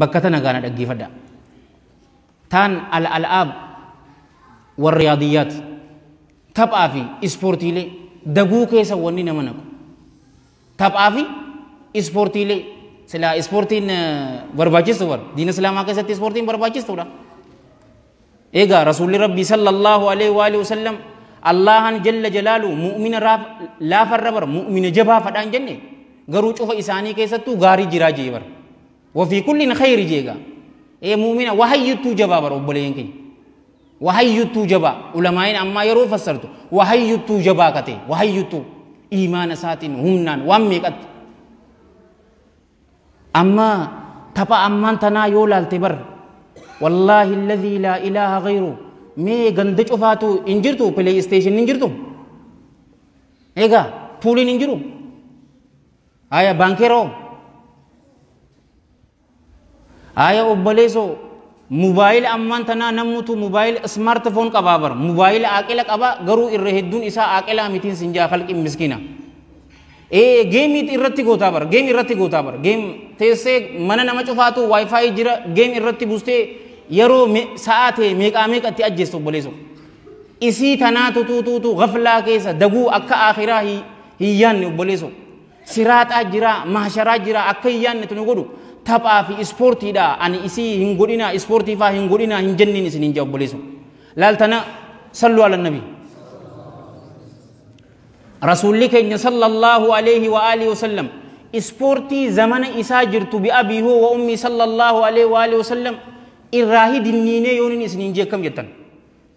bakka tana gaana dhaggeeffadha. Taan al-al'aab warra yaadiyyaati. Taphaa fi ispoortiilee daguu keessa wanni nama naqu. Taphaa fi ispoortiilee silaa ispoortiin barbaachistu bar diina islaamaa keessatti ispoortiin barbaachistuudha. Egaa Rasuulli Rabbii sallallahu alaihi wa alihi wasallam Allaahan jalla jalaalu mu'mina raaf- laafarra bara mu'mina jabaa fadhaan jenne garuu cufa isaanii keessattuu gaarii jiraa jee bara. Wafii kulliin khayri jee egaa. Ee mu'mina wahayyuttuu jabaa bara obboleeyyan keenya. Wahayyuttuu jabaa ulamaa'in ammaa yeroo fassartu wahayyuttuu jabaa katee wahayyuttuu iimaana isaatiin humnaan waan meeqatti. Amma tapha ammaan tanaa yoo laalte bar wallaahi alladhii laa ilaaha ghayru mee ganda cufaatu hin jirtu play station hin jirtu egaa puuliin hin jiru haya baankeeroo haya obboleessoo Mobile ammaan tanaa nammutu mobile smart phone qabaa bar mobile aaqila qaba garuu irra hedduun isaa aaqilaa mitiin sin jaa kalqin miskina ee game irratti gootaa bar game irratti gootaa bar game teessee mana nama cufaatu wifi jira game irratti bustee yeroo sa'aa ta'e meeqaa meeqatti ajjeessu obboleesso isii tanaa tutuutuutu gaflaa keessa daguu akka aakhiraa hin yaanne obboleesso Siraaxaa jiraa, mahsharaa jiraa akka hin yaannetu nu godhu. Taphaa fi ispoortiidha. Ani isii hin godhinaa, ispoortii faa hin godhinaa hin jenniin isin hin jaa obboleessa. Laaltana sallu ala nabi. Rasuulli keenya sallallahu alayhi wa alihi wa sallam ispoortii zamana isaa jirtu bi abii hoo wa ummii sallallahu alayhi wa alihi wa sallam irraa hidinniinee yooniin isin hin jeekkam jettan.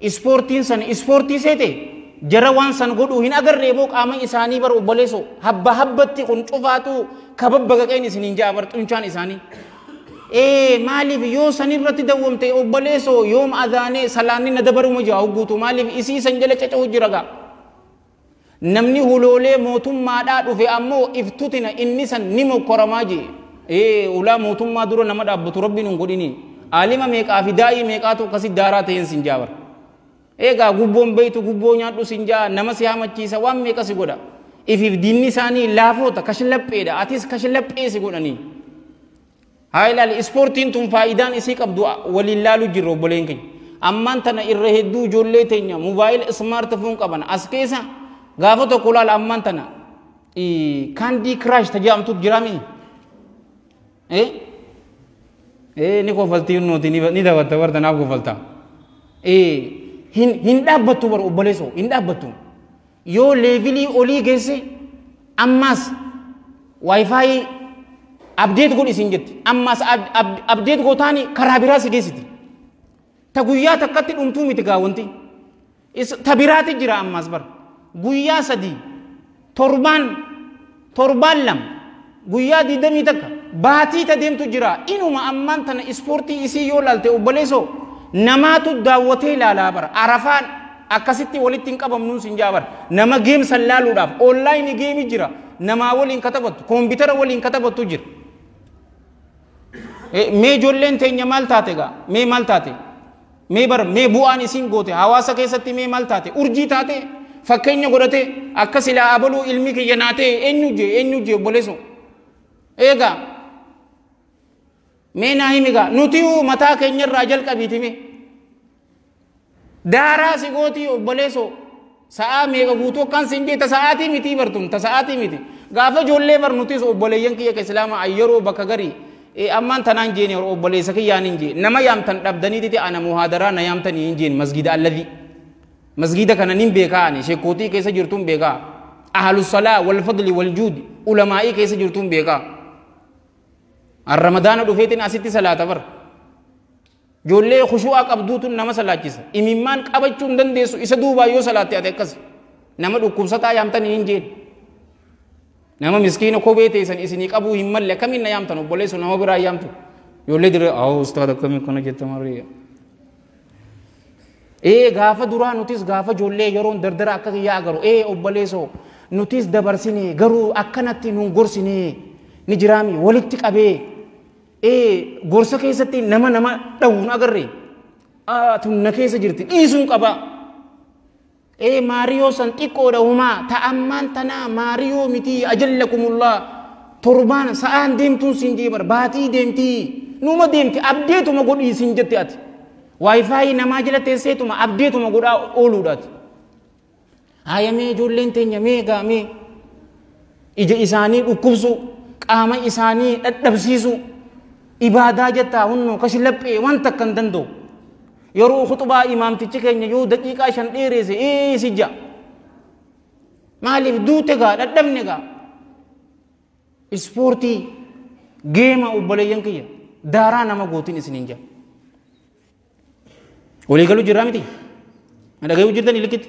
Ispoortiin san ispoortii seete jara waan san godhuu hin agarree boo qaama isaanii bar obboleeso habba habbatti kun cufaatuu kababbaqaqeen isiniin ja'a bar xunchaan isaanii. Ee maaliif yoo san irratti dawwamte obboleeso yoom azaanee salaanni na dabaruma ja'a hogguutu maaliif isii san jala caca'u jira gaa. Namni huloolee mootummaadhaa dhufe ammoo iftutina inni san ni mokkoramaa jee. Ee ulaa mootummaa dura nama dhaabbatu rabbiin hin godhini. Aalima meeqaa fi daa'ii meeqaatu akkasi daaraa ta'een sin jaabar. Eegaa gubboon beeytu gubboo nyaadhu sin jaa nama si hamachiisa waan meeqa si godha. Ifiif diinni isaanii laafoota kashlapheedha atis kashlaphee si godhanii. Haa ilaali ispoortiin tun faayidaan isii qabdu waliin laalu jirra obboleen keenya. Ammaan tana irra hedduu ijoollee teenya mobaayila ismaartifoon qaban as keessa gaafa tokko laala ammaan tana kaandii kiraash tajaajamtuuf jiraamii. Eh? Eh ni kofaltii nuti ni dabatta warta naaf kofaltaa. Eh hin hin dhaabbattu bar obboleessoo hin dhaabbattu. yoo leevilii olii geesse ammaas waayifaayii abdeet godhi siin jetti ammaas abdeet gootaani karaa biraa si geessiti ta guyyaa takkatti dhumtuu miti gaa wanti ta biraati jira ammaas bar guyyaa sadii torbaan Torbaan lama, guyyaa digdamii takka, baatii ta deemtu jira. Inuma ammaan tana ispoortii isii yoo laalte obboleessoo namaatu daawwatee laalaa bara. Arafaan akkasitti walitti hin qabamnuun sin jaa bara. Nama geem san laaluudhaaf online geemi jira. Namaa waliin ka taphattu, koompitara waliin ka taphattu jira. Mee ijoolleen teenya maal taate gaa? Mee maal taate? mee bar mee bu'aan isiin goote hawaasa keessatti mee maal taate urjii taate fakkeenya godhate akka silaa abaluu ilmi kiyya naa ta'e eenyu jee eenyu jee obboleeso eegaa mee naa himigaa nuti hoo mataa keenyarraa jalqabiitime daaraa si gootii obboleeso Sa'aa meeqa guutuu akkaan siin jee ta sa'aatii mitii bar tun ta sa'aatii miti. Gaafa ijoollee bar nutis obboleeyyan kiyya ka islaamaa yeroo bakka garii ammaan tanaan jeeni hor obboleessa kiyyaan hin jee nama yaamtan dhabdanii titi ana muhaadaraa na yaamtanii hin jeen masgiida alladhi. Masgiida kana nin beekaa ani shekkootii keessa jirtuun beekaa. Ahlu salaa wal fadli wal juudi ulamaa'ii keessa jirtuun beekaa. Ramadaana dhufeetiin asitti salaata bar. Ijoollee khushu'aa qabduutu nama salaachisa. Imimmaan qabachuu hin dandeessu isa duubaa yoo salaatte ati akkas. Nama dhukkubsataa yaamtan hin jeen. Nama miskiina kophee teessan isinii qabuu hin malle akkamiin na yaamtan obboleessu nama biraa yaamtu. Ijoollee dirree haa ustaad akkamii akkana jetta marii. Ee gaafa duraa nutis gaafa ijoollee yeroon dardara akka kiyyaa agaru ee obboleessoo nutis dabarsine garuu akkanatti nun gorsine ni jiraami walitti qabee Ee gorsa keessatti nama nama dhawuun agarre. Aa tun na keessa jirti dhiisuun qaba. Ee maariyoo san xiqqoodha humaa ta ammaan tanaa maariyoo mitii ajallakumullaa torbaan sa'aan deemtuun siin jee bara baatii deemtii numa deemti abdeetuma godhii siin jette ati. Waayifaayi namaa jala teesseetuma abdeetuma godhaa ooluudhaati. Haaya mee ijoolleen teenya mee gaa mee ija isaanii dhukkubsuu qaama isaanii dhadhabsiisuu ibaadaa jettaa hunnoo kashi laphee waan takka hin danda'u. Yeroo khuxubaa imaamtichi keenya yoo daqiiqaa shan dheereesse ee si ja'a. Maaliif duute gaa dhadhabne gaa. Ispoortii geema obboleeyyan kiyya daaraa nama gootiin isiniin ja'a. Walii galuu jirraa miti? Na dhagayuu jirtanii likkitti?